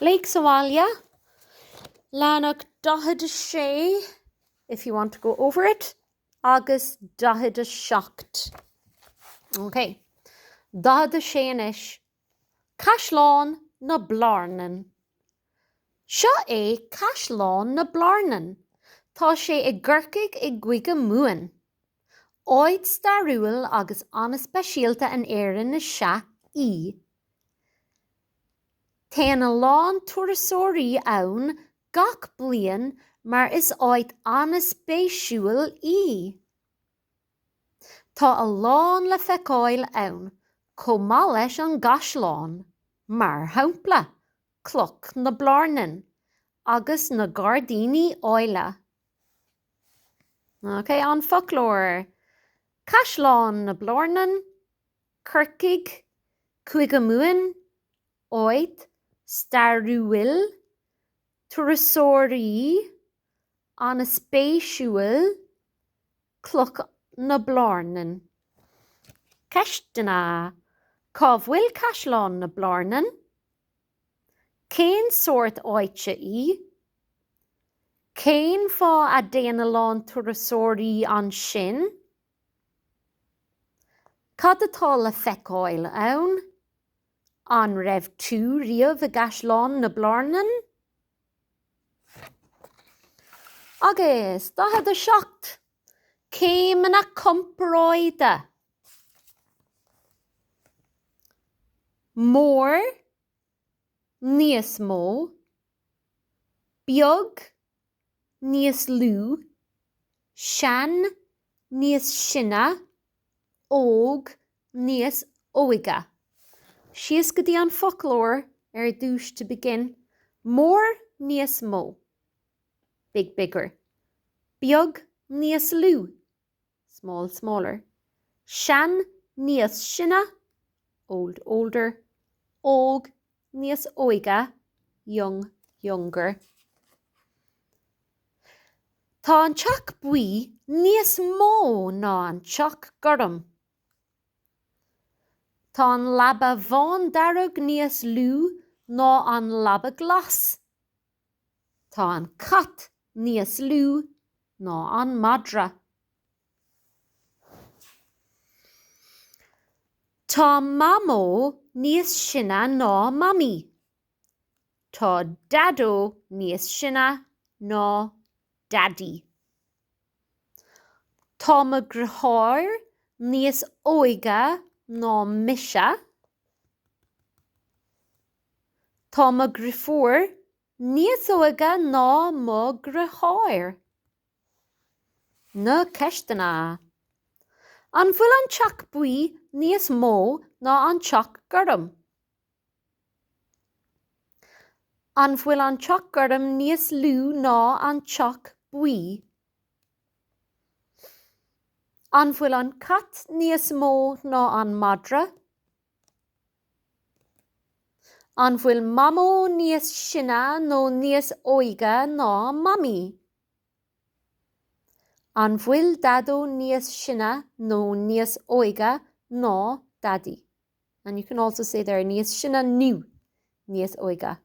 Léigh sa bhaile. Leathanach 46 if you want to go over it agus 47. OK. 46 anois. Caisleán na Blarnan. Seo é Caisleán na Blarnan. Tá sé i gCorcaigh i gCúige Mumhan. Áit stairiúil agus an-speisialta in Éirinn is ea í. Téann a lán turasóirí ann gach bliain mar is áit an-spéisiúil í. Tá a lán le feiceáil ann, chomh maith leis an gcaisleán, mar shampla, Cloch na Blarnan, agus na gairdíní áille. OK, An Foclóir, Caisleán na Blarnan, Corcaigh, Cúige Mumhan, Áit stairiúil, turasóirí, an-spéisiúil, Cloch na Blarnan. Ceisteanna, Cá bhfuil Caisleán na Blarnan? Cén sórt áite í? Cén fáth a dtéann a lán turasóirí ansin? Cad atá le feiceáil ann? An raibh tú riamh i gCaisleán na Blarnan? Agus 47 céimeanna comparáide! Mór, Níos mó, Beag, Níos lú, Sean, Níos sine, Óg, Níos óige. Síos go dtí an foclóir ar dtús to begin, Mór, Níos mó, big, bigger, Beag, Níos lú. small, smaller, sean, níos sine, old, older, óg, níos óige, young, younger. Tá an teach buí níos mó ná an teach gorm. Tá an leaba bhándearg níos lú ná an leaba glas. Tá an cat níos lú ná an madra. Tá Mamó níos sine ná Mamaí. Tá Daideo níos sine ná Daidí. Tá mo dheartháir níos óige ná mise. Tá mo dheirfiúr níos óige ná mo dheartháir. Na ceisteanna. An bhfuil an teach buí níos mó ná an teach gorm? An bhfuil an teach gorm níos lú ná an teach buí? An bhfuil an cat níos mó ná an madra? An bhfuil Mamó níos sine nó níos óige ná Mamaí? An bhfuil Daideo níos sine nó níos óige ná Daidí? And you can also say there níos sine nó níos óige.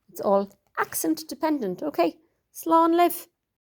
It's all accent dependent, OK? Slán libh!